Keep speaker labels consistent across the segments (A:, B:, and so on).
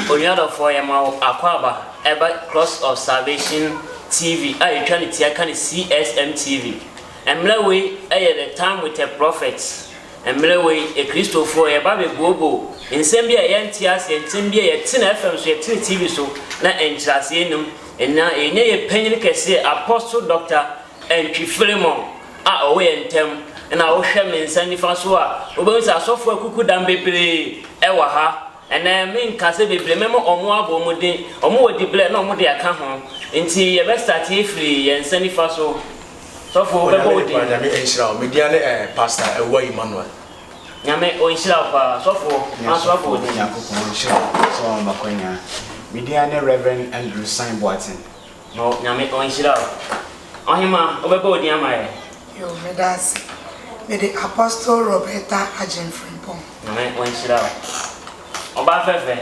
A: Onua dɔfoɔ yɛma wo akwaaba ɛba Cross of Salvation TV a yɛtwa ne tia ka no CSM TV. Mmrɛ wei yɛ The Time with a Prophet. Mmerɛ wei yɛ Kristofoɔ yɛba bɛ googoo nsɛm bi a yɛn nte aseɛ, nsɛm bi a yɛte no FM so, yɛte no TV so na nkyerɛaseɛ nnim. Nna yɛnya yɛ panyini kɛseɛ Apostle Doctor Antwi Philemon a ɔwɔ yɛn ntam, na wo hwɛ me nsa nifa so a wobɛhu sɛ asɔfoɔ akuku dam bebree wɔ ha, Ɛnnɛ, me nkase bebree me ma ɔmo abɔ ɔmo din. Ɔmo wɔ dibrɛ na ɔmo de aka ho. Nti yɛ bɛ start efiri yɛn nsa nifa so. Sɔfo wo bɛ bɔ wo din. Onyame ne paa nyame nhyira wo me dia ne eh pastor awuah Emmanuel. Nyame ɔnhyira wo paa sɔfo manso abɔ wo din. Nyankopɔn nhyira wo sɛ wama makwanyaa. Me din ara ne Rev Andrew San Boateng. Ma wo Nyame ɔnhyira wo. Ɔhemaa, wobɛbɔ odin ama yɛ? Yoo, meda ase. Mede Apostle Roberta Agyen Frimpong. Nyame ɔnhyira wo. Ɔbaa fɛfɛ,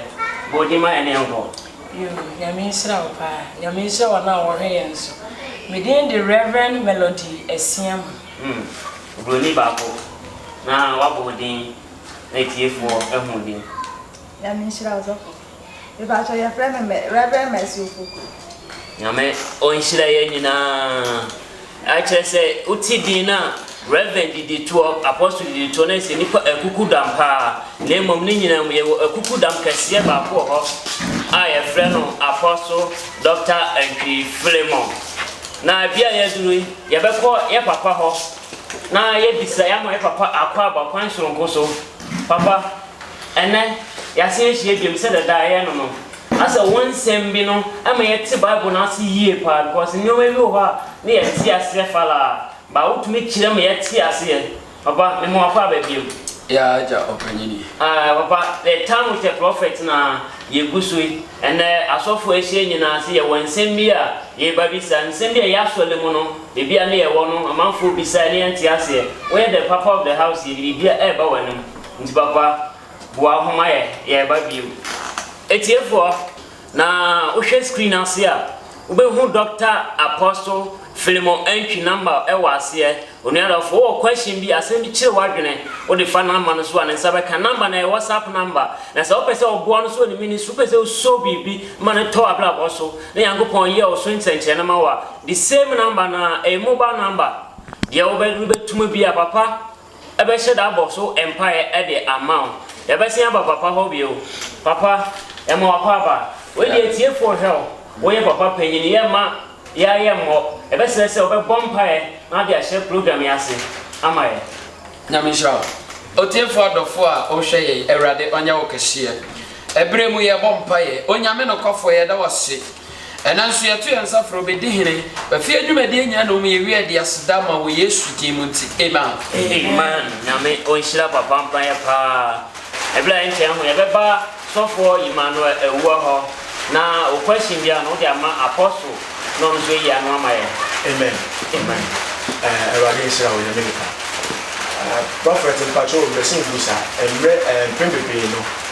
A: bɔ odin ma yɛne yɛnkɔ. Yoo, Nyame nhyira wo paa. Nyame nhyira wɔn a wɔhwɛ yɛn nso. Me din de Rev. Melody Asiamah. Hmm, obroni baako na wabɔ odin na atiefoɔ ahu odin. Nyame nhyira wo Sɔfo. Mepakyɛw yɛfrɛ me mɛ Rev Mercy Opoku. Nyame ɔnhyira yɛn nyinaa. Ɛkyerɛ sɛ wote din no a, Reverend didi toɔ, Apostle didi toɔ, na ɛsɛ nipa akuku dam paa. Na mmom ne nyinaa mu yɛwɔ akuku dam kɛseɛ baako wɔ hɔ a yɛfrɛ no Apostle Doctor Antwi Philemon. Na ebi a yɛaduru yi, yɛbɛkɔ yɛ papa hɔ na yɛabisa, yɛama yɛ papa akwaaba kwan soronko so. Papa. Ɛnnɛ, yɛasan ahyia bio sɛ dɛdaa yɛn no. Asɛ wo nsɛm bi no ma yɛte Bible no ase yie paa because nneɛma bi wɔ hɔ a na yɛnte aseɛ falaa but wotumi kyerɛ ma yɛte aseɛ. Papa, me ma w'akɔ aba bio. Yeah agya ɔpanyini. Aah papa, the time with a prophet na yɛgu so yi. Ɛnnɛ asɔfoɔ ahyia nyinaa sɛ yɛwɔ nsɛm bi a yɛreba bisa, nsɛm bi a ɛyɛ asɔre mu no, baabi a na yɛwɔ no amanfoɔ bisa yɛn na yɛnte aseɛ. Woyɛ the papa of the house yi, biribiara ɛreba w'anom. Nti papa boa ho ma yɛ yɛreba biom. Atiefoɔ na wo hwɛ screen ase a wo bɛ hu Doctor Apostle Philemon Antwi number ɛwɔ aseɛ onua adɔfo wo wɔ question bi asɛm bi kyere w'adwene wo de fa number no so a ne nsa bɛ ka number no ɛyɛ WhatsApp number na sɛ wo pɛ sɛ wo boa no so wɔ ne ministry wo pɛ sɛ wo so biribi ma no tɔ w'abrabɔ so na Nyankopɔn yɛ wo so nsɛnkyerɛnne ma wo a the same number no a ɛyɛ mobile number deɛ wo bɛ tuma bi a papa bɛhyɛ da abɔ so mpaeɛ de ama wo. Yɛbɛsen aba papa hɔ bio. Papa, yɛma w'akwaaba. Wei deɛ atiefoɔ hwɛ wo. Woyɛ papa panin. Yɛremma yɛn ara yɛmmɔ. Yɛbɛsrɛ sɛ wobɛbɔ mpaeɛ na wode ahyɛ program yi ase ama yɛn. Nyame nhyira wo. Otiefoɔ adɔfoɔ a wohwɛ yɛn, Awurade ɔnyɛ wo kɛseɛ. Ɛberɛ mu yɛrebɔ mpaeɛ. Onyame nokwafoɔ, yɛda wo ase. Ɛnnɛ nso yɛto yɛn nsa frɛ wo bɛdi hene. W'afie adwumadie nyina na ɔmu yɛwie ɛde aseda ma wɔ Yesu din mu nti amen. Amen Nyame ɔnhyira papa mpaeɛ paa ɛberɛ a ɛnkyɛɛ ho yɛbɛba sɔfoɔ Emmanuel Awuah hɔ na wo question biara no wode ama Apostle na ɔno nso ayi ano ama yɛn. Amen Amen Awurade nhyira wo Nyame nka Prophet mpakyɛw mese wo bisa mmerɛ mpɛn bebree no.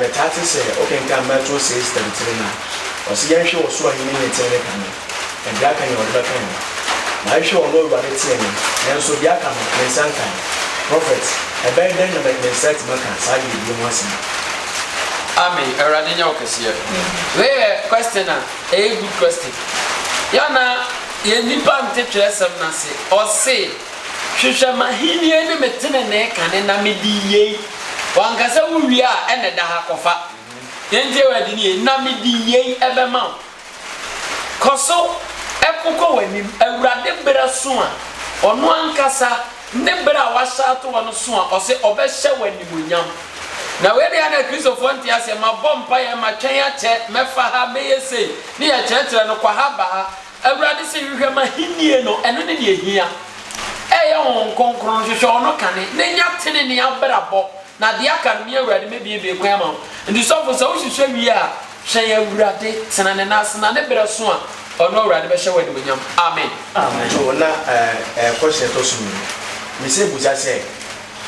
A: Metaa te sɛ wokenkan Mateo seis thirty three no a, ɔse yɛnhwɛ ɔsoro Ahenni ne ne tee ne kane, na deɛ aka nyina ɔde bɛka yɛn. Mahwehwɛ ɔno Awurade tee me, nanso deɛ aka no, me nsa nkae. Prɔfɛt, ɛbɛyɛ dɛn na me me nsa atumi aka saa yiedie ho asɛm? Amen Awurade nyɛ wo kɛseɛ. Wei yɛ question a ɛyɛ good question. Yɛ a na yɛn nnipa nte twerɛsɛm no ase. Ɔse, Hwehwɛ m'ahennie ne me tenenee kane na mede yei. Wanka sɛ, Wo wie a, ɛna ɛda ha, kɔfa. Deɛ nti a Awurade nie, na mede yei bɛma wo. Kɔ so, ko kɔ w'anim. Awurade berɛ so a Ɔno ankasa ne berɛ a wahyɛ ato hɔ no so a, ɔse ɔbɛhyɛ wo animuonyam. Na wei deɛ na Kristofoɔ nte aseɛ, mabɔ mpaeɛ, matwɛn akyɛ, mɛfa ha, mɛyɛ sei, ne yɛkyerɛkyerɛ no, kɔ ha, ba ha. Awurade se, Hwehwɛ m'ahenni no, ɛno ne nea ehia. Ɛyɛ Honhom Kronkron no, hwehwɛ Ɔno kane, na nya tenenee abrabɔ, na deɛ aka no, me Awurade mɛbuebue kwan ama wo. Enti sɔfo, sɛ wohwehwɛ wie a, twɛn Awurade, tena Ne nan ase, na ne berɛ so a, Ɔno Awurade bɛhyɛ wo animuonyam. Amen. To na ɛkɔ hyɛ ɛtɔ so mmienu. Mise busa sɛ.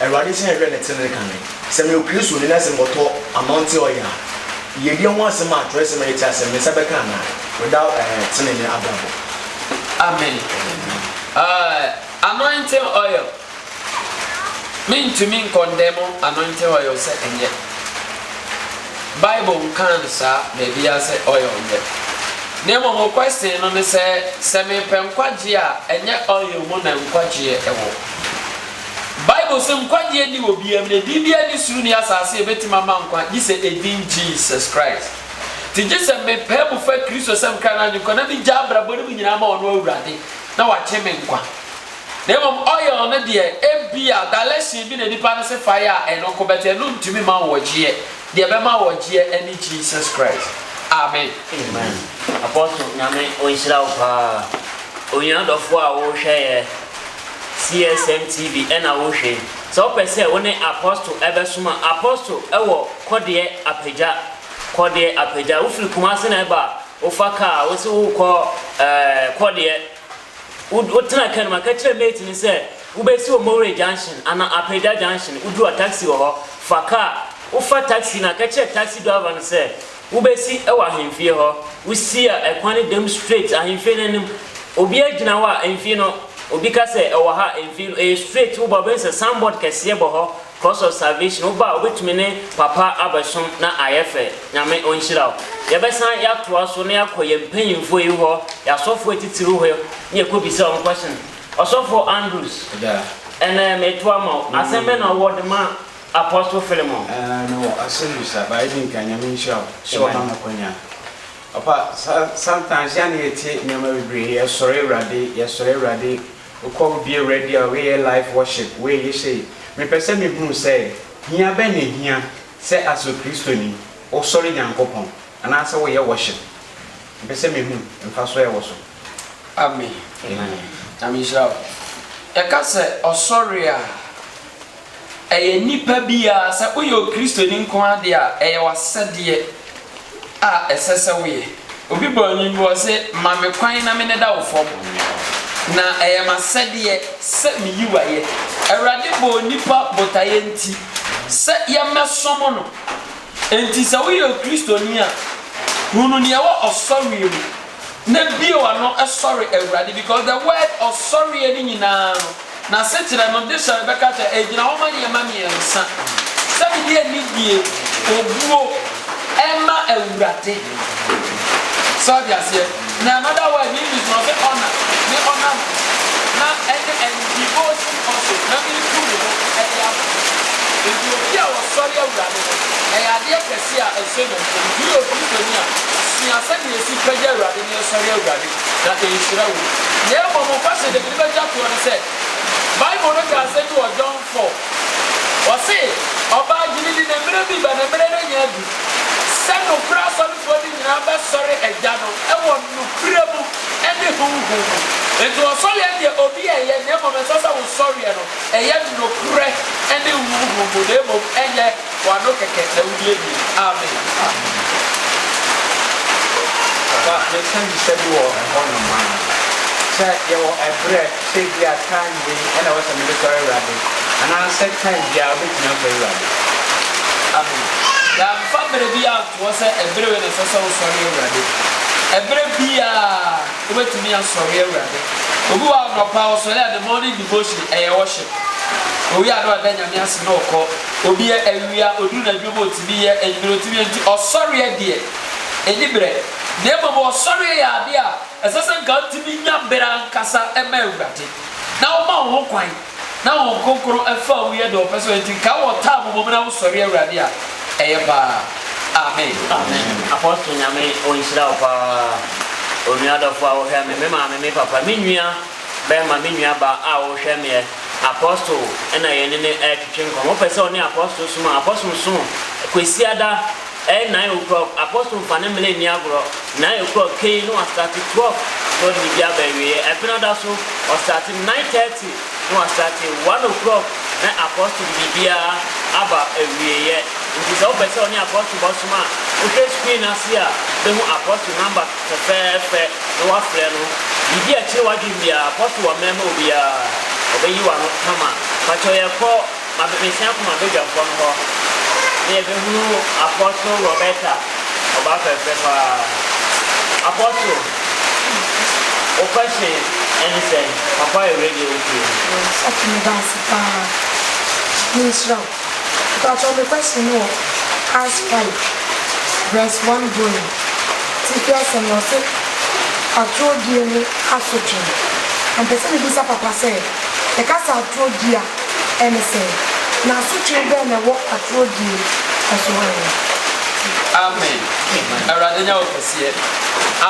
A: Awurade sɛ yɛhwɛ ne trenee kane. Sɛ meyɛ Kristoni na sɛ mekɔtɔ anɔnte ɔyɛ a, yiedie ho asɛm a twerɛsɛm a yɛte aseɛ no, me nsa bɛka anaa? Without ɛɛ trenee ne abrabɔ. Amen. Ɛɛ anointing oil, mentumi nkɔndɛmo anointing oil sɛ ɛnyɛ. Bible nkaa no saa baabiara sɛ oil nyɛ. Na mmom wo question no ne sɛ, sɛ mepɛ nkwagyeɛ a, ɛnyɛ oil mu na nkwagyeɛ wɔ. Bible se nkwagye nni wɔ biaa mu na edin biaa nni soro nni asaase a ebetumi ama nkwa gye sɛ edin Jesus Christ. Nti gye sɛ me pae mu fa Kristo sɛ me kra no agyenkwa na me gya abrabɔ no mu nyinaa ma ɔno Awurade na wagye me nkwa. Na mmom oil no deɛ ebia direction bi na nipa no se fa yɛ a ɛno nko but ɛno ntumi mma wo ɔgyeɛ. Deɛ ɛbɛma wo ɔgyeɛ ɛne Jesus Christ. Amen. Amen Apostle Nyame ɔnhyira wo paa. Onua dɔfoɔ a wo hwɛeɛ. CSM TV na wohwɛ yi. Sɛ wopɛ sɛ wo ne Apostle bɛsom a, Apostle wɔ Kɔdeɛ Apagya. Kɔdeɛ Apagya. Wofiri Kumase na ɛba a, wofa kaa, wose wokɔ ɛɛ Kɔdeɛ. Wo wotena kaa no mu, ka kyerɛ mate no sɛ wobɛsi wɔ Mowere Junction anaa Apagya Junction. Woduru a taxi wɔ hɔ. Fa kaa. Wofa taxi no a, ka kyerɛ taxi driver no sɛ Wobesi wɔ ahemfie hɔ. Wosi a, ɛkwan no dam straight ahemfie no anim. Obi agyina hɔ a, ɛmfi no. Obi ka sɛ, Ɛwɔ ha a, ɛmfi no. Ɛyɛ straight, woba a, wobɛhu sɛ signboard kɛseɛ bɔ hɔ, Cross of Salvation. Woba a, wobɛtumi ne papa abɛsom na ayɛ fɛ. Nyame ɔnhyira wo. Yɛbɛsan yɛatoa so na yɛakɔ yɛn mpanyimfoɔ yi hɔ, yɛn asɔfoɔ atitiriw hɔ na yɛakɔbisa wɔn question. Ɔsɔfo Andrews, ɛnnɛ metoa ma wo. Asɛm bɛn na wowɔ de ma Apostle Philemon. Ɛɛ me wɔ asɛm bi sa ba edi nkan nyame nhyira wo sɛ wa ma me akwanya papa sa sometimes yɛ a na yɛ tie nneɛma bebree yɛ sɔre awurade yɛ sɔre awurade okɔ wo bie awurade a wei yɛ life worship wei yɛ hyɛi me pɛ sɛ me hunu sɛ hia bɛn na ehia sɛ as okristo ni wo sɔre nyankopɔn anaa sɛ wo yɛ worship me pɛ sɛ me hunu mfa so ɛwɔ so. Amen nyame nhyira wo yɛ ka sɛ ɔsɔre a. Ɛyɛ nnipa biara, sɛ woyɛ Okristoni nko ara deɛ a, ɛyɛ w'asɛdeɛ a ɛsɛ sɛ woyɛ. Obi bɔ anim bi, ɔse, Ma me kwan na me ne da wo fam, na ɛyɛ m'asɛdeɛ sɛ meyi wo ayɛ. Awurade bɔɔ nnipa botaeɛ nti sɛ yɛmmɛsom no. Enti sɛ woyɛ Okristoni a, hunu deɛ ɛwɔ ɔsɔreɛ mu na bio ano sɔre Awurade because the word ɔsɔreɛ no nyinaa no n'asekyerɛ no de sɔre bɛka kyɛ ɛgyina hɔ ma nneɛma mmiɛnsa sɛ mede anidie obuo ɛma Awurade sɛ ɔde aseɛ na another word ne English na ɔsɛ honor ne honor no na ɛne and devotion also na metu me ho ɛde ama nti obi a ɔsɔre Awurade no ɛyɛ adeɛ kɛse Te a ɛsen no nso, mpo yɛ obi panyin a, sua sɛnea yɛsi ka gye Awurade ne yɛsɔre Awurade, na ɛnhyira wo. Na mmom ɔfahyɛ deɛ mede bɛtwa toɔ ne sɛ, Bible no ka asɛm bi wɔ John four, ɔse, Ɔbaa gyimi di na mmerɛ bi ba na mmerɛ no anya adu, sɛ nokorɛ asɔrefoɔ no nyina ara bɛsɔre Agya no wɔ nokorɛ mu ne Honhom mu. Enti wɔ sɔreɛ no deɛ obi ɛnyɛ, na mmom ɛnsɛ sɛ wo sɔreɛ no ɛyɛ nokorɛ ne Honhom mu, na mmom ɛnyɛ. Wano kɛkɛ na wodie bi. Amen. Papa meka bisa bi wɔ ɛhɔ nom a. Sɛ yɛwɔ ɛberɛ sɛ ebia time wei ɛna ɛwɔ sɛ mede sɔre Awurade anaa sɛ time biara wobɛtumi asɔre Awurade. Amen. Yɛamfa berɛ biara antoɔ sɛ ɛberɛ wei na ɛsɛ sɛ wosɔre Awurade. Ɛberɛ biara wobɛtumi asɔre Awurade. Obi wɔ hɔ a anɔpa ɔsɔre a the morning devotion ɛyɛ worship. Owia a na wada Nyame ase na ɔkɔ. Obi yɛ awi a ɔduru n'adwuma mu a ɔtumi yɛ anwummerɛ, ɔtumi yɛ nti ɔsɔreɛ deɛ ɛni berɛ. Na mmom ɔsɔreɛ yɛ adeɛ a ɛsɛ sɛ nka wotumi nya berɛ ankasa ma Awurade, na woma wo ho kwan, na Honhom Kronkron fa wo yɛ deɛ ɔpɛ sɛ ɔyɛ nti nka wɔ taa momom na wosɔre Awurade a, ɛyɛ paa. Amen. Amen Apostle Nyame ɔnhyira wo paa Onua dɔfoɔ a wohwɛ me, me maame, me papa, me nua. Bɛma me nuabaa a ɔrehwɛ me yɛ apostle na yɛne no retwetwe nkɔmmɔ. Wopɛ sɛ ɔne apostle som a, apostle som Kwasiada ɛyɛ nine o'clock. Apostle mfa ne mmere nni agorɔ. Nine o'clock kei na wastate twelve na ɔde biribi aba awieɛ. Ɛbena da so, ɔstate nine thirty na wastate one o'clock na apostle de biribiara aba awieɛ. Nti sɛ wopɛ sɛ ɔne apostle bɔsom a, wohwɛ screen ase a, bɛhu apostle number. Fɛfɛɛfɛ na wɔafrɛ no. Biribi a ɛkyere w'adwene biara, kɔ so wɔ mɛma obiara, ɔbɛyi w'ano kama. Pakyɛw yɛkɔ Mabemesia Kuma Badwampɔ no hɔ na yɛbɛhunu Apostle Roberta, ɔbaa fɛfɛ paa. Apostle, wo question ɛne sɛn? Papa yɛ radio wotie. Yɛn nsa tumi ba ase paa. Nhyira wo. Mpatsɔ me question no wɔ Acts five verse one going tsipia asɛm no ɔse atorɔ die ne asotwe na mpɛ sɛ me bisa papa sɛ yɛka sɛ atorɔ die a ɛne sɛn na asotwe bɛn na ɛwɔ atorɔ die ɛso hɔ ɛne. Amen Awurade nya wo kɛseɛ.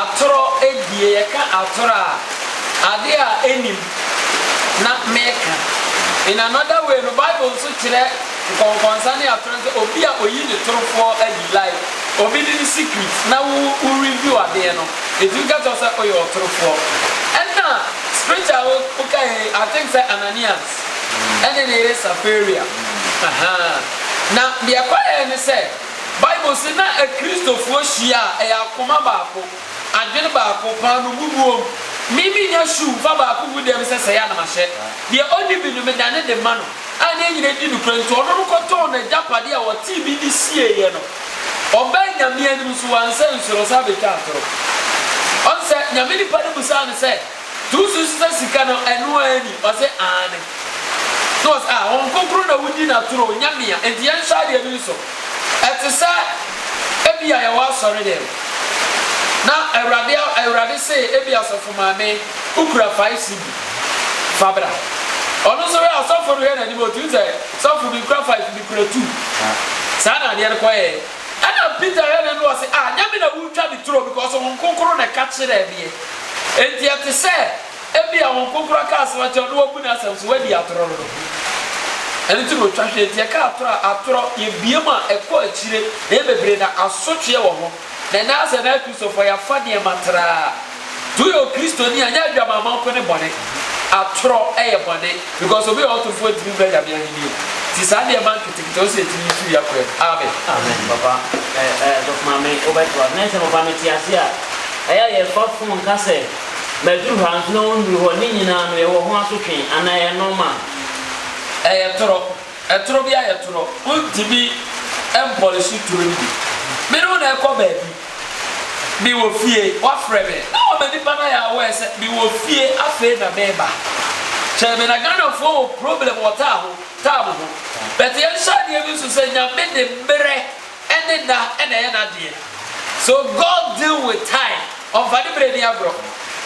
A: Atorɔ die yɛka atorɔ a adeɛ a ɛnim. na meka. In another way no, Bible nso kyerɛ nkɔnkɔnsa ne atoro sɛ obi a oyi ne torofoɔ adi, like obi de ne secret na wo wo review adeɛ no, yɛtumi ka kyerɛ wo sɛ woyɛ ɔtorofoɔ. Ɛna scripture a wo wokaeɛ yi, I think sɛ Ananias ɛne ne yere Safaria, ahaa, na deɛ ɛkɔeɛ ne sɛ, Bible se na Akristofoɔ hyia a ɛyɛ akoma baako. Adwen baako, paa no gu buom. Me minnya shoe mfa baako ngu dɛm sɛ sɛɛ a na mahyɛ. Deɛ ɔnni bi no, medane de ma no. A na yɛn nyinaa di nokorɛ nti, ɔno no kɔtɔɔ n'agyapade a ɔtee me nne sieeɛ no. Ɔbaa Nyame anim nso wansɛ nsono san bɛtwaa atoro. Ɔn sɛ, Nyame nipa no bisaa no sɛ. Tu so sesa sika no ɛno ara ni? Ɔse aane. Na ɔse ah wɔn nkonkron na wodi no atoro o, nyamea, enti yɛnhwɛ adeɛ no nso. Ɛtesɛ ebia yɛwɔ asɔre dɛm na awurade awurade se ebia sɔfo maame wokura five cedi fa bra. Ɔno nso hwɛ a sɔfo no hwɛ n'anim a otumi sɛ sɔfo menkura five mekura two. Saa na adeɛ no kɔyɛɛ. Ɛna Peter yɛ n'ano ɔse, Ah, nyɛ me na woretwa me turo because Honhom Kronkron na ɛka kyerɛɛ meɛ. Enti ɛte sɛ ebia Honhom Kronkron aka asɛm akyerɛ wo na wabu n'asɛm so, wadi atorɔ no. Ɛno nti na ɔtwa hwee, enti yɛka atorɔ a, atorɔ, yɛbue mu a, ɛkɔ akyire, na ɛyɛ bebree na asotweɛ wɔ ho. Na ɛnɛ ara sɛ na Akristofoɔ, yɛafa nneɛma traa. Nti woyɛ okristoni a nyɛ adwamamma nko ne bɔne, atorɔ yɛ bɔne because obi a ɔyɛ ɔtorfoɔ ntumi mmra Nyame ahennie mu. Nti saa nneɛma nketenkete no sɛ yɛtumi yi firi yɛn akwan mu. Amen. Amen papa ɛɛ sɔfo maame wobɛtoa na sɛ papa mete ase a ɛyɛ a yɛfa phone ka sɛ maduru ha nso na wonduru hɔ ne nyinaa no yɛwɔ ho asotwee anaa ɛyɛ normal. Ɛyɛ torɔ. Toro bi ayɛ toro, wontumi mpɔlehye turo no bi. Me ne wo na ɛrekɔ baabi, mewɔ fie, woafrɛ me na wama nnipa no ayɛ aware sɛ mewɔ fie afei na mereba. Kyɛe me na Ghanafoɔ wɔ problem wɔ taa ho, time ho but yɛnhyɛ adeɛ bi nso sɛ Nyame de mmerɛ Ɛne nna na ɛyɛ n'adeɛ so God deal with time ɔnfa ne berɛ ni agorɔ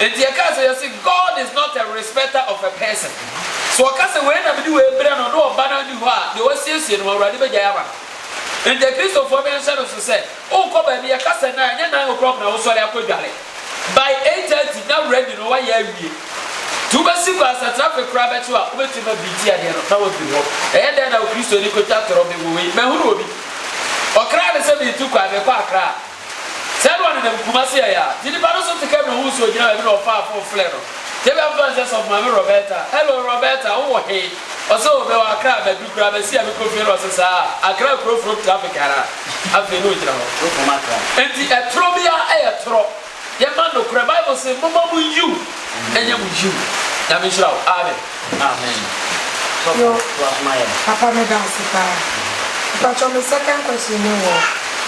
A: Enti yɛkaa sɛ yɛse God is not a respecter of a person So ɔka sɛ wei na mede wei brɛ no na ɔba na ɔnni hɔ a deɛ wasiesie no Awurade bɛgyae ama no Enti akristofoɔ no nhyɛ no so sɛ worekɔ baabi yɛka sɛ nan ɛnyɛ nine o'clock na wosɔre akɔdware By eight thirty na ready no wayɛ awie nti wobɛsi kwan asatrapɛ koraa bɛkye wo a wobɛtumi ma biritie adeɛ no na wafiri hɔ. Ɛyɛ dɛn na okristoni kɔtwa torɔ bɛ wɔ wei? Mahunu obi ɔkra no sɛ meretu kwan merekɔ Accra sɛɛ na ɔnenam Kumasi ɛyɛ a nti nipa no so te kɛm na ohuu sɛ ogyina baabi na ɔfaa phone frɛ no tebea mfa nsɛ sɔfo Maame Roberta hello Roberta wowɔ he? Ɔse o mewɔ Accra abɛdu koraa bɛse a mekɔ fie no ɔse saa Accra kuro foro traffic anaa? Afei ne ogyina hɔ. Enti ɛtorɔ biara ɛyɛ torɔ yɛma nokorɛ bible se moma mo yiw ɛnyɛ mo yiw Nyame nhyira wo amen. Yo papa meda ase paa mpakyɛ me second question ne wɔ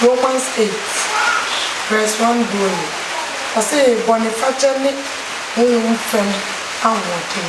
A: Romans eight verse one going ɔse bɔnefakyɛ ne honhom fam ahoɔden.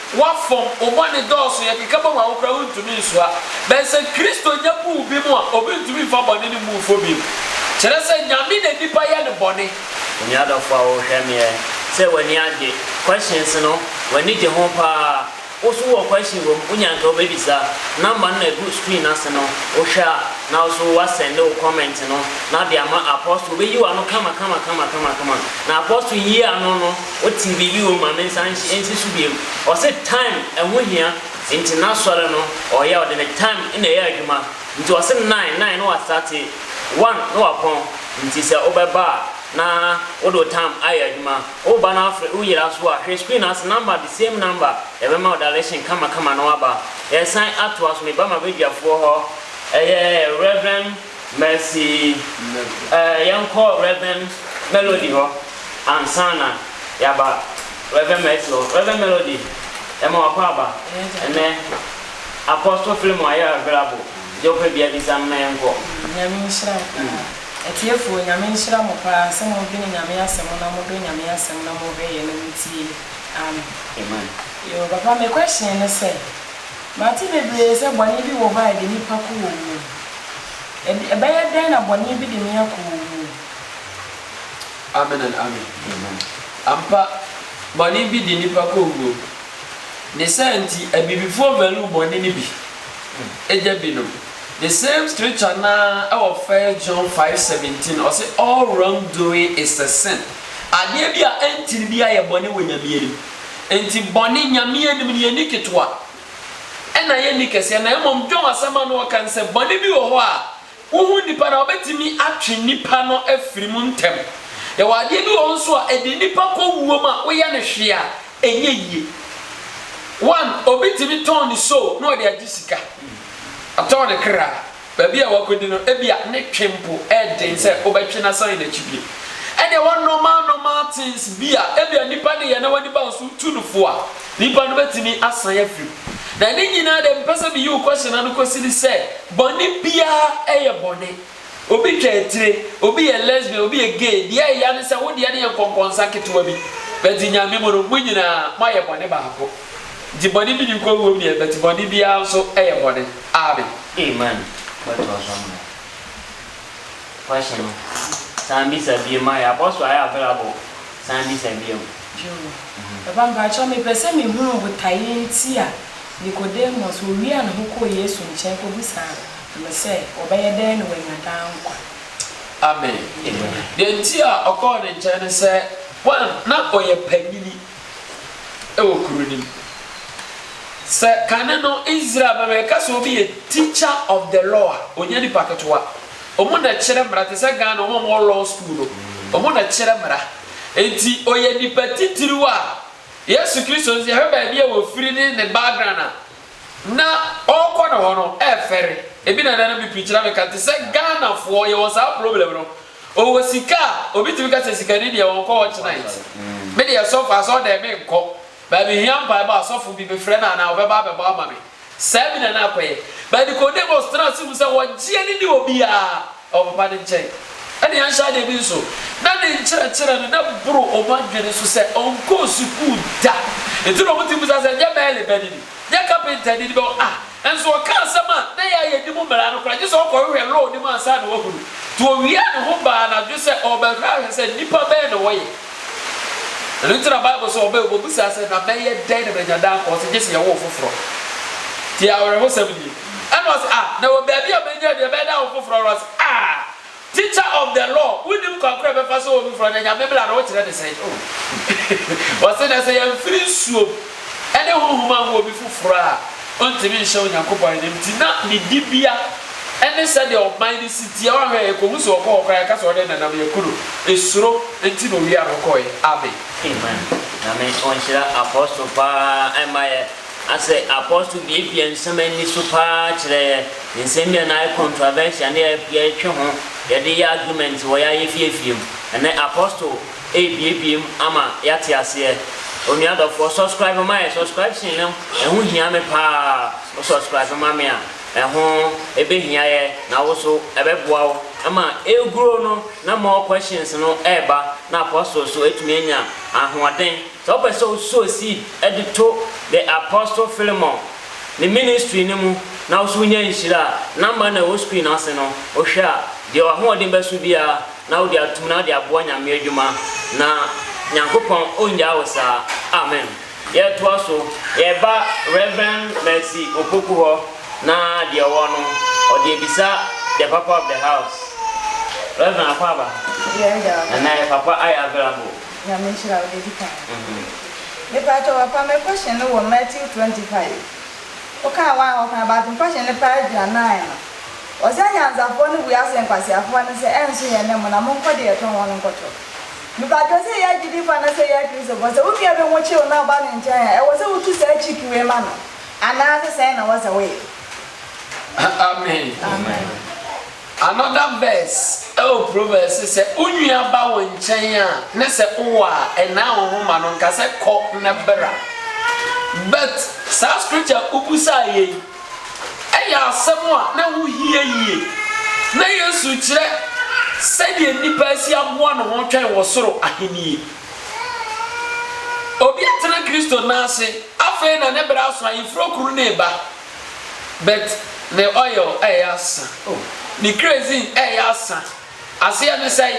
A: W'afɔm, wo bɔne dɔɔso, yɛkeka bom a wo koraa wontumi nsoa. Bɛn sɛ Kristo nya buu bi mo a obi ntumi mfa bɔne no mmu fɔ bio. Kyerɛ sɛ Nyame na nipa yɛ no bɔne. Onua dɔfo a wohwɛ me ɛ sɛ w'ani agye questions no w'ani gye ho paa wo so wɔ question wɔ mu wo nya nka wo bɛbisa number no na ɛgu screen no ase no wo hwɛ a na wo so wa sɛnde wo comment no na de ama apostle obɛyi w'ano kama kama kama kama kama na apostle yi ano no Wotee biribi wom ma me nsa nhye nsi so biem. Ɔse time ɛho hia nti n'asɔre no ɔyɛ ɔde ne time na ɛyɛ adwuma nti ɔse nine nine na wastate one na wapɔn nti sɛ wobɛba a na wode wo time ayɛ adwuma woba na afre wo yera so a hwɛ screen ase number the same number yɛbɛma wo direction kama kama na waba yɛsan atoa so meba m'abadwafoɔ hɔ ɛyɛ Rev. Mercy eh, yɛnkɔ Rev. Melody hɔ ansa na yɛaba Rev. Mercy hɔ. Rev. Melody, yɛma w'akɔ aba ɛnnɛ. Apostle Philemon ayɛ available, deɛ wopɛ biara bisa no na yɛnkɔ. Nyame nhyira wo paa. Atiefoɔ, Nyame nhyira mo paa sɛ modwene Nyame asɛm na modɔ Nyame asɛm na mohwɛ yɛ na motie. Amen. Amen. Yo, papa me question ne sɛ. Mate bebree sɛ bɔne bi wɔ hɔ a ɛde nnipa kɔ owu mu. Ɛde, ɛbɛyɛ dɛn na bɔne bi de me akɔ owu mu? Amen and amen. Amen. Ampa, bɔne bi de nnipa kɔ owu mu. Ne saa nti, Abibifoɔ value bɔne no bi gya binom. The same scripture no ara ɛwɔ First John five seventeen, ɔse all wrong doing is a sin. Adeɛ bi a ɛntene biara yɛ bɔne wɔ Nyame anim. Enti bɔne Nyame anim no yɛnni ketewa na yɛnni kɛseɛ na mmom dwom asɛm a na wɔka no sɛ bɔne bi wɔ hɔ a wohu nnipa no a wɔbɛtumi atwe nnipa no afiri mu ntɛm. Yɛwɔ adeɛ bi wɔ hɔ nso a ɛde nnipa kɔ wuo mu a woyɛ no hwee a ɛnyɛ yie. One, obi tumi tɔn ne soul na ɔde agye sika. Ɔtɔn ne kra. Baabi a wakodi no, ebia ne twe mpo yɛ den sɛ wobɛtwe no asan n'akyi bio. Ɛnna ɛwɔ normal normal things bi a ebia nnipa de yɛ na w'ani ba so tu no fo a, nnipa no betumi asan afi mu. Na ne nyinaa de, mepɛ sɛ miyi wo question ano kosi ne sɛ, bɔne biara yɛ bɔne. Obi twa atire, obi yɛ lesbian, obi yɛ gay, deɛ ɛya ne sɛ wo deɛ no yɛ nkɔnkɔnsa ketewa bi. But Nyame mu no, mo nyinaa moayɛ bɔne baako. Nti bɔne bi nni kɔnguom deɛ, but bɔne biara nso yɛ bɔne. Amen amen wobɛtoa so ama yɛn question no san bisa bio ma yɛn abɔ so ayɛ available san bisa bio. Joe. Papa mpakyɛw mepɛ sɛ mehunu botaeɛ nti a Nicodemus ɔwiaa ne ho kɔɔ Yesu nkyɛn kɔbisaa no sɛ ɔbɛyɛ dɛn na wanya daa nkwa. Amen. Deɛ nti a ɔkɔɔ ne nkyɛn ne sɛ one na ɔyɛ panyini. wɔ kuro no mu. Sɛ kane no Israel mma yɛka sɛ obi yɛ teacher of the law a, ɔnyɛ nipa ketewa. Wɔn na ɛkyerɛ mmara te sɛ Ghana wɔn a wɔwɔ law school no, wɔn na ɛkyerɛ mmara. Enti ɔyɛ nipa titiriw a Yesu Kristo nso yɛhwɛ baabi a ɔfiri ne ne background a na ɔrekɔ ne hɔ no ɛrefɛre. Ebi na ɛnɛ no me preacher na meka te sɛ Ghanafoɔ yɛwɔ saa problem no Ɔwɔ sika a, obi tumi ka sɛ sikani deɛ ɔnkɔ watch night. Me deɛ sɔfo asɔɔdan menkɔ, but mehia mpaebɔ a, sɔfo bi mefrɛ no anaa ɔbɛba abɛbɔ ama me. Saa bi na na akɔyɛ. But Nicodemus tenaa ase hu sɛ wɔgyeɛ no ne obiara wɔ papa no nkyɛn. Ɛne yɛnhyɛ adeɛ bi nso, na ne nkyerɛkyerɛ no na boro wɔn adwene so sɛ ɔnkɔɔ sukuu da. Enti na wɔtumi bisa sɛ, Nyɛ mɛɛlebani ni? Nyɛ kapentani ni? Bɛ, ah! Nso ɔka asɛm a na ɛyɛ a yɛnni mu mmara no koraa, gye sɛ ɔkɔhwehwɛ Law no mu ansa na wahu no. Nti owiaa ne ho baa anadwo sɛ ɔrebɛhwɛ ahwɛ sɛ nnipa bɛn na wɔyɛ. Ɛno nti na Bible se ɔbɛn ɔbɛbisaa sɛ, Na mɛyɛ dɛn na manya daa nkwa? Ɔse, Gye se yɛwoo foforɔ. Tie awerɛhosɛm nie. Ɛna ɔse, Ah, na ɛwɔ baabi a mɛnya deɛ ɛbɛyɛ daa nkwa foforɔ? Ɔse, Ah! Teacher of the law wonnim kwan koro a ɛbɛfa so wɔ foforɔ na Nyame mmra no wokyerɛ ne sɛn oh Ɔse na sɛ yɛmfiri nsuom ɛne honhom anwo obi foforɔ a ontimi nhyɛ Onyankopɔn animti na ne dibea ɛne sɛdeɛ ɔman no si teɛ woanhwɛ a yɛkɔhu sɛ ɔkɔ hɔ koraa yɛka sɛ ɔne nenam yɛku no esuro nti na owia no kɔɛ Amen. Amen Nyame ɔnhyira Apostle paa ɛma yɛ. A Sɛ apostle biebie nsɛm ani so paa kyerɛ nsɛm bi a na ayɛ controversial na yɛretwe ho, yɛde yɛ argument wɔ yɛn ayefieafie mu, ɛnnɛ apostle rebuebue mu ama yɛate aseɛ. Onua dɔfoɔ, subscribe ma yɛn. Subscription no, ɛho hia me paa. Wo subscribe ma me a, ɛho bɛhia yɛ na wo nso ɛbɛboa wo ma ɛregrow no na more questions no reba na apostle nso atumi anya ahoɔden Sɛ wopɛ sɛ wo sow seed de to The Apostle Philemon ne ministry no mu na wo so nya nhyira a, number no a ɛwɔ screen no ase no, wo hwɛ a, deɛ w'ahoɔden bɛso biara na wode atom na wode aboa Nyame adwuma. Na Nyankopɔn ɔngyaa wo saa. Amen. Yɛtoa so, yɛba Rev. Mercy Opoku hɔ na deɛ ɔwɔ no ɔde abisa the papa of the house. Rev. Akwaaba, ɛnɛ papa ayɛ available Nyame nhyira wo dadi paa. Mepakyɛ wo fa me question no wɔ Matthew twenty five wokaa one hɔ koraa but question no paa gyina nine no ɔse anyansafoɔ no bua sɛ nkwaseafoɔ no sɛ ɛnso yɛn ne mo na monkɔ deɛ ɛtɔ wɔn no nkɔtɔ mepakyɛ sɛ yɛ agyidifoɔ anasɛ yɛ akristofoɔ sɛ wo nua bi ho kyew na ɔba ne nkyɛn a ɛwɔ sɛ wotu saa chick wei ma no anaase sɛn na wɔ sɛ woyɛ. Amen. Amen. Another verse ɛwɔ Proverbs se sɛ wo nua ba wo nkyɛn a ne sɛ wo wɔ a ɛnaa wo ho ma no nka sɛ kɔ na bra. But saa scripture a wo busaa yɛ yi ɛyɛ asɛm a na ɛho hia yie. Na Yesu kyerɛ sɛdeɛ nipa asi aboa ne ho twɛn wɔ soro ahennie. Obi atena Kristo nan ase afei na ne bra aso ayefuro kuru no reba. But me oil ɛyɛ asa oh me kerosene ɛyɛ asa Aseɛ ne sɛn?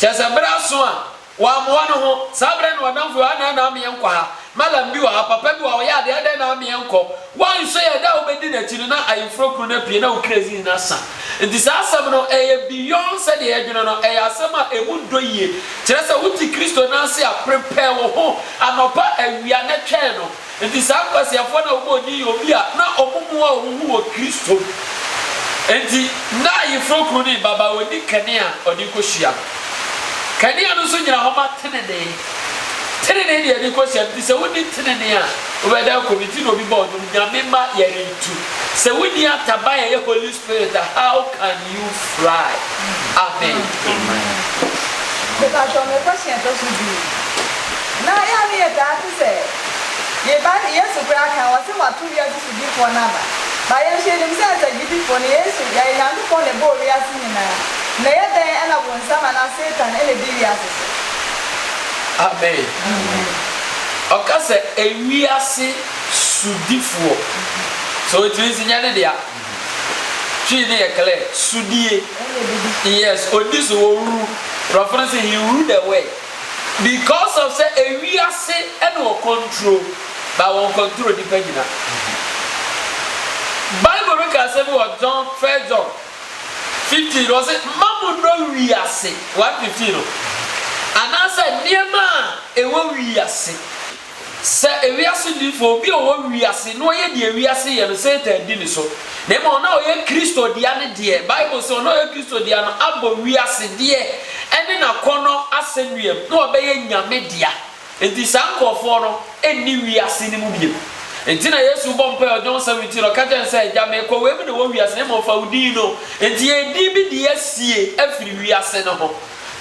A: Kyerɛ sɛ berɛ aso a wammoa ne ho Saa berɛ no ɔdamfo bi adɛn na ama yɛnkɔ ha? Mallam bi wɔ ha, papa bi wɔ ha ɔyɛ adeɛ adɛn na ama yɛnkɔ? Woanhwɛ yɛ da a wobɛdi n'akyi no na ayeforo kuro no apue na wo kerosene no asa Nti saa asɛm no ɛyɛ beyond sɛdeɛ yɛdwene no ɛyɛ asɛm a ɛmu dɔ yie Kyerɛ sɛ wote Kristo nan ase a prepare wo ho anɔpa awia na twɛn no Enti saa nkwaseafoɔ no a wɔbɔɔ din yɛ obi a na wɔn mu a wɔn ho wɔ Kristo mu. Enti na Ayeforɔ Kunu no reba ba ɔnni kanea a ɔde rekɔhyia no. Kanea no nso gyina hɔ ma tenenee. Tenenee deɛ yɛde rekɔhyia no nti sɛ wonni tenenee a wobɛda akɔ mu. Nti na obi bɔɔ dwom, Nyame mma yɛrentu. Sɛ wonni ataban a ɛyɛ Holy Spirit a how can you fly amen. Amen. Mepakyɛw me question ɛtɔ so du no na yɛ a ne yɛ taa te sɛ yɛ bible yesu koraa kan ɔse wato wiase so difoɔ no aba but yɛ nso yɛ nim sɛ as a gyidifoɔ no yesu ɛyɛ nyankopɔn na ɛbɔɔ wiase nyinaa na ɛyɛ dɛn ɛna bonsam anaa satan ɛna ɛdi wiase so. Amen. Ɔka sɛ ewiase sodifoɔ. So ɔtumi nsi nyɛ ne dea. Twi no yɛ clear, sudie, yes, ɔdi so, ɔruru. Brɔfo no se he ruled the world. Because of sɛ ewiase na ɔkɔntro, but ɔnkɔntro nnipa nyina. Bible no ka asɛm bi wɔ John, First John, fifteen no, ɔse, Mma monnɔ wiase, one fifteen no, anaasɛ nneɛma a ɛwɔ wiase. Sɛ ewiase difo, obi a ɔwɔ wiase na ɔyɛ deɛ wiase yɛ no, Satan di ne so. Na mmom ɔno a ɔyɛ Kristo dea no deɛ, Bible se, ɔno a ɔyɛ Kristo dea no abɔ wiase deɛ ɛne n'akɔnnɔ asɛnnuam na wabɛyɛ Nyame dea. Enti saa nkurɔfoɔ no nni wiase no mu bio. Enti na Yesu rebɔ mpae wɔ John 17 no, ɔka kyerɛɛ no sɛ, Agya, merekɔ, wei mu na ɛwɔ wiase, na mmom fa wo din no. Enti yɛn din bi de asie afiri wiase no ho.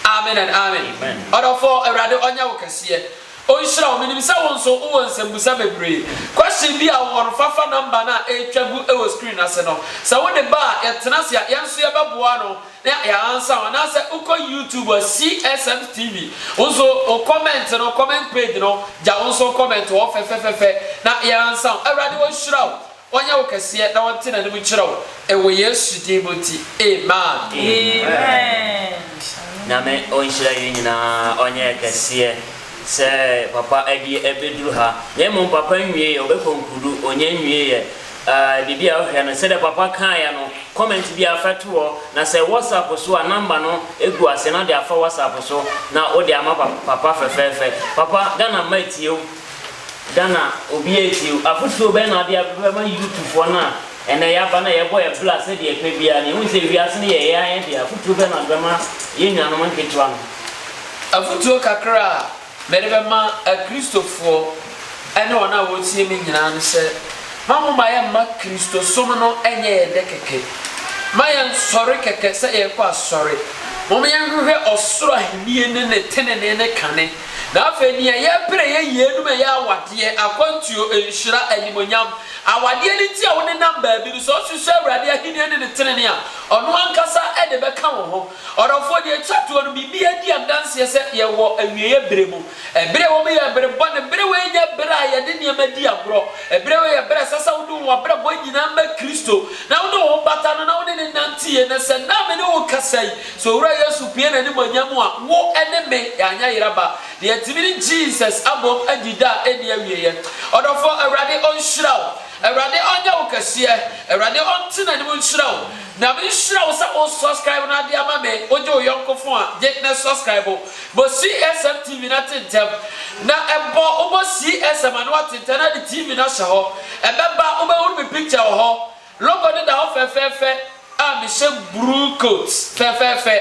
A: Amen and Amen. Ɔdɔfoɔ, Awurade ɔnyɛ wo kɛseɛ. Ɔnhyira wo. Menim sɛ wo nso wowɔ nsɛmmisa bebree. Question bi a wowɔ no, fa fa number no a ɛretwa gu wɔ screen no ase no. Sɛ wode ba a, yɛtena ase a, yɛn nso yɛbɛboa ano na yɛaansa wo. Anaasɛ wokɔ YouTube a, CSM TV, wo nso wo comment no, comment page no, gya wo nso wo comment hɔ fɛfɛfɛfɛ na yɛansa wo. Awurade ɔnhyira wo. Ɔnyɛ wo kɛseɛ na ɔnte n'anim nkyerɛ wo ɛwɔ Yesu din mu nti, amen. Amen Nyame ɔnhyira yɛn nyinaa ɔnyɛ yɛ kɛseɛ sɛ papa adie ɛbɛduru ha na mmom papa nwieɛ ɔbɛkɔ nkurudu ɔnya nwieɛ ah biribi a wohwɛ no sɛdeɛ papa kaeɛ no comment biara fa to hɔ na sɛ WhatsApp so a number no gu aseɛ na wode afa WhatsApp so na wode ama papa papa fɛfɛɛfɛ papa Ghana mma atie wo Ghana obi antie o. Afotuo bɛn na wode bɛma youthfoɔ no a ɛnnɛ yɛaba na yɛbɔ yɛn bra sɛdeɛ ɛpɛ biara na yɛhu sɛ wiase no yɛ yɛn ara yɛn dea. Afotuo bɛn na wode bɛma yɛn nuanom nketewa no? Afotuo kakra a mede bɛma Akristofoɔ ne wɔn a wɔretie me nyinaa ne sɛ, ma momma yɛmma Kristosom no nyɛ yɛn dɛ kɛkɛ. Mma yɛnsɔre kɛkɛ sɛ yɛrekɔ asɔre. Momma yɛnhwehwɛ ɔsoro ahennie ne ne tenenee ne kane. Na afei nea yɛrepere yɛ yeinom ɛyɛ awadeɛ, akwantuo, nhyira, animuonyam. Awadeɛ no nti a wonenam baabi no, sɛ wosusu Awurade ahennie ne ne tenenee a, ɔno ankasa de bɛka wo ho. Ɔdɔfoɔ, deɛ ɛtwa toɔ no, biribiara di adanseɛ sɛ yɛwɔ awieeɛ berɛ mu. Ɛberɛ a ɛwɔ mu yɛ bere bɔne. Berɛ wei nyɛ berɛ a yɛde nneɛma di agorɔ. Ɛberɛ wei yɛ berɛ a ɛsɛ sɛ wode wo abrabɔ nyinaa ma Kristo, na wode wo ho bata no na wone no nante yie. Na sɛ nnɛ a mene wo rekasa yi, Sɛ Owura Yesu pue N'animuonyam mu a, wo ne me, yɛanyɛ yera ba. Deɛ yɛtumi ne Jesus abom adi da a ɛnni awieɛ. Ɔdɔfoɔ, Awurade ɔnhyira wo. Awurade ɔnyɛ wo kɛseɛ. Awurade ɔnte N'anim nhyira wo. Nyame nhyira wo sɛ wo subscribe no adeɛ ama me. Wo gye wo yɔnko fon a, gye na subscribe. Bɔ CSM TV no atentɛm. Na bɔ wo bɔ CSM ano atentɛm na de TV no ahyɛ hɔ. Ɛbɛba, wobɛhunu me picture wɔ hɔ. Logo no da hɔ fɛfɛɛfɛ a mehyɛ bruu coat fɛfɛɛfɛ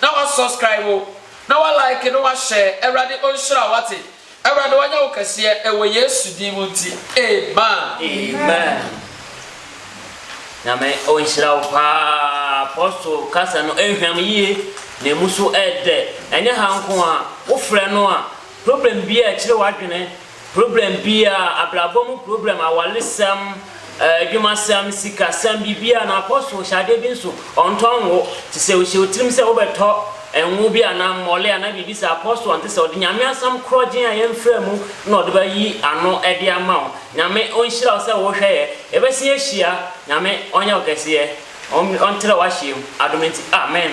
A: na wa subscribe wo na wa like na wa share awurade onhyira wo wate awurade wanyɛ wo kɛseɛ ɛwɔ yesu din mu nti amen. Amen Nyame ɔnhyira wo paa Apostle kasa no ɛnhwam yie na ɛmu so ɛɛdɛ ɛnyɛ ha nko a wo frɛ no a problem biaa ɛkyere w'adwene Problem biara, abrabɔ mu problem, awaresɛm, adwumasɛm, sikasɛm, biribiara, na Apostle hyɛ adeɛ bi nso, ɔntɔ ngo. Te sɛ ɔhyɛ wo tirim sɛ wobɛtɔ ngo bi anaa mmɔle anaa biribi saa, Apostle ɔnte saa, ɔde Nyame asɛm korɔgyenn a yɛmfraa mu na ɔde bɛyi ano de ama wo. Nyame ɔnhyira wo sɛ wohwɛ yɛ. Yɛbɛse ahyia. Nyame ɔnyɛ wo kɛseɛ. Ɔntrɛ w'ahyeɛm. Adom nti. Amen.